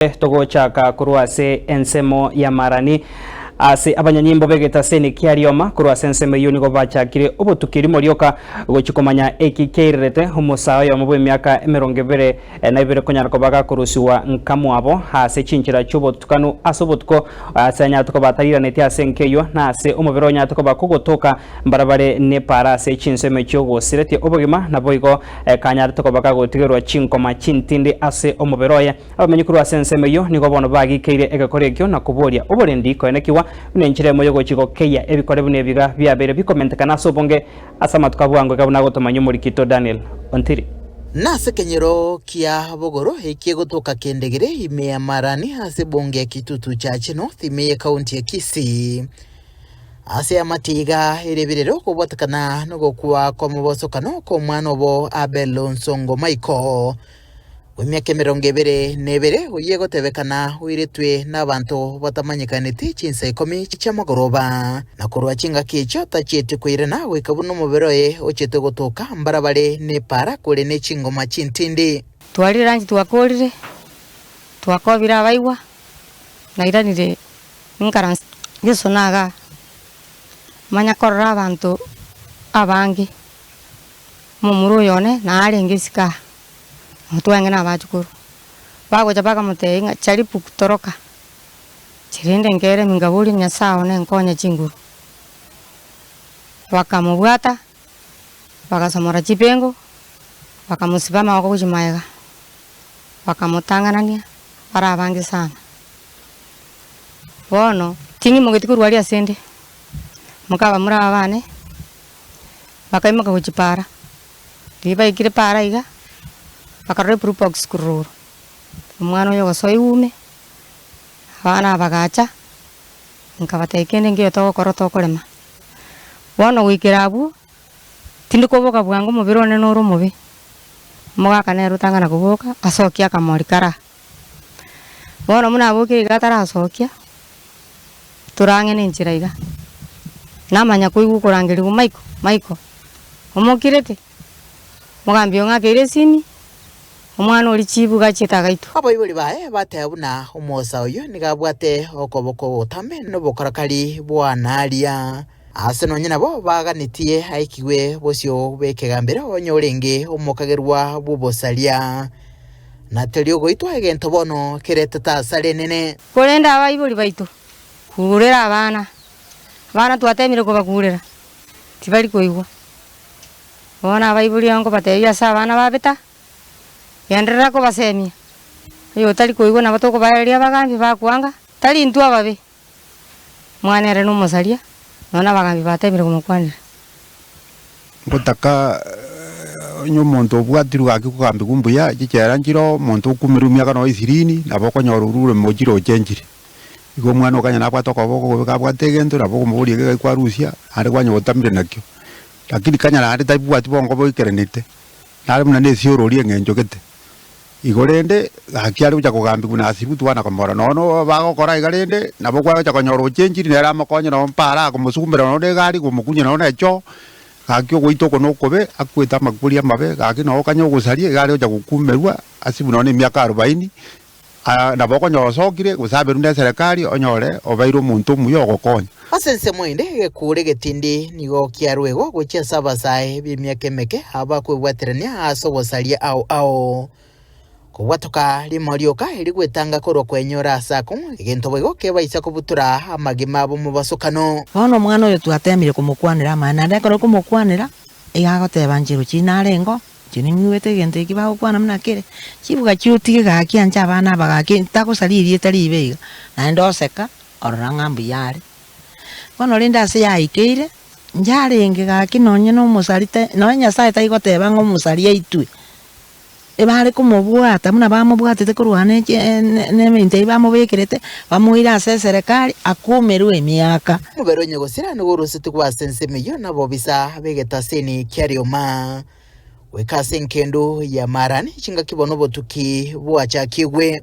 Nere togochaka korwa ase ensemo y'amaarani ase abanyanyimbo b'egetaseni kia rioma. Korwa ase ensemo eyio nigo bachakire obotuki rimo rioka gochia komanya eki kiairerete omosaa oyomo bw'emiaka emerongo ebere na ebere konyara koba gakorusigwa nkamwabo ase chinchera chi'obotutukanu ase obotuko ase anyate koba atariraneti ase enka eyio na ase omobere onyate koba kogotoka mbare bare nepaara ase chinso emechie ogosiretie obogima naboigo kanyarete koba gagotigerwa chinkoma chintindi ase omobere oye. Abaminyi korwa ase ensemo eyio nigo bono bagikeire egekori ekio na koboria oborendi koenekigwa buna enchera emo y'ogochia gokeyia ebikore buna ebiga biabeire bikomentekana ase obonge ase amatuko abwango iga buna agotomanywa omorikito Daniel Ontiri. Nase ekenyero kia bogoro ekie gotoka kendegere ime ya Marani ase ebunge ya Kitutu Church North ime ye county ya Kisii. Ase amatiga erebirere okobwatekana nogokwa kwamobosokano kwomwana obo Abel Onsongo Michael bw'emiaka emerongo ebere na ebere, oyio egotebekana oiretwe nabanto batamanyekaneti chinsa ikomi chi'amagoroba, na korwa chingaki echio tachieti koirana goika buna omobere oye ochete gotoka mbarabare n'epaara kore ne chingoma chintindi. Twarire lunch twakorire twakobire abaigwa nairanire ninkaranse Yeso naga manya korora abanto abange. Omomura oyo one narenge isiko aa, omotwenge nabachukuru. Bagocha bakamotebia ng'a, Charipuku, toroka, chirende nkere ime ngaborie Nyasae one nkonye chinguru. Bakamobwata, bagasomora chipengo, bakamosiba amaboko gochia magega, bakamotang'anania bare abange sana. Bono ting'imogeti korwa aria asende, mokaba muraba bane. bakaimoka gochia paara. Riria baikire paara iga, bakarora eblue box korwa igoro, omwana oyo ogosoa egoume, abana aba bagacha, nkabatebia kende nkeiyo togokora tokorema. Bono goikera abwo, tindi koboka bwango omobere one nore omobe, omogaka nere otang'ana koboka, asokie akamori karaa. Bono buna abokire iga atarasokia, torang'e nenchera iga, namanya koigwa okorangerigwa Michael, Michael, omokirete? Mogaambia oo ng'akeire esimi, omwana oria chibu iga achiete agaitwa. Abaibori baye bateba buna omoosa oyio nigo abwate okoboko ogotame nobokorakari bw'aana aria. Aase nonya nabo baaganetie aikigwe bosio bw'ekegambero onye orenge omokagerwa bw'obosaria. Na tari ogoitwa egento bono keretete asara enene. Korende abaibori baito, kurera abana. Abana twateemire kobakurera, tibari koigwa. Bono abaibori nigo nkobateebia ase abana babeta, genderera kobaseemia. Oyo otari koigwa nabo tokobaereria abagaambi bakwanga, tari intwe ababe, Mwane ere nomosaria, nonya nabagaambi bateemire komokwanera. Ngotaka onye omonto obwatirwe gaki kogaambigwa mbuya, chichela nchireo, omonto okuumerwe emiaka nonya ishirini, nabo okonyora orure omochire ochenchire. Igo omwana okonyora nabwate okoba okobe kabwate egento, nabo okomoboria eke gaki kwarusia, naende kwanya gotamire nakio. Lakini kanyara naende tabwati boongo boikerenete, nare buna nesiorori eng'encho gete. Igo rende, gaki are gocha kogambigwa na ase Ruti bwana komora, nonya nobo bagokora iga rende, nabo kwagocha konyora oche enchiri nere amokonye nonya mpa araa komosugumbera nonya negari komokunyia nonya nechoo, gaki ogoita oko nokobe, akwete amakori amabe, gaki nonya okanye ogosaria iga are gocha gokumerwa ase buna nonya emiaka arobaini, aa nabo okonyora osokire, gose aberwe neserekari, onyore obeire omonto omuya ogokonya. Ase ensemo ende egekoore getindi nigo kiaruegwa gochia ase abasae b'emiaka emeke abakwebwaterania ase ogosaria ao ao. Kobwatoka rimo rioka eri gwetanga korwa kwenyora ase ako, egento boigo kebaisa kobutora amagima b'omobasokano. Bono omwana oyo twateemire komokwanera amaene, naende ekero komokwanera, iga agoteba nche rochie narengeo, inche ning'igwete egento eki bagokwana buna kere, chibuga chiotige gaki anche abana aba gaki, ntagosaririe tari ibe iga, naende oseka, orora ng'a mbuya are. Bono rende ase yaikeire, yarenge gaki nonye nomosari te, nonye Nyasae tai goteba ng'a omosari aitwe, ebare komobwata buna bamobwatete korwa ne chie ne- ne- neminto eyio bamobekerete, bamoire ase eserekari, akomerwe emiaka. Omobere onye gosira nigo oroseti koba ase ensemo eyio na abobisa b'egetasini kia rioma goika ase enkendu ya Maarani chingaki bono obotuki bwachakigwe.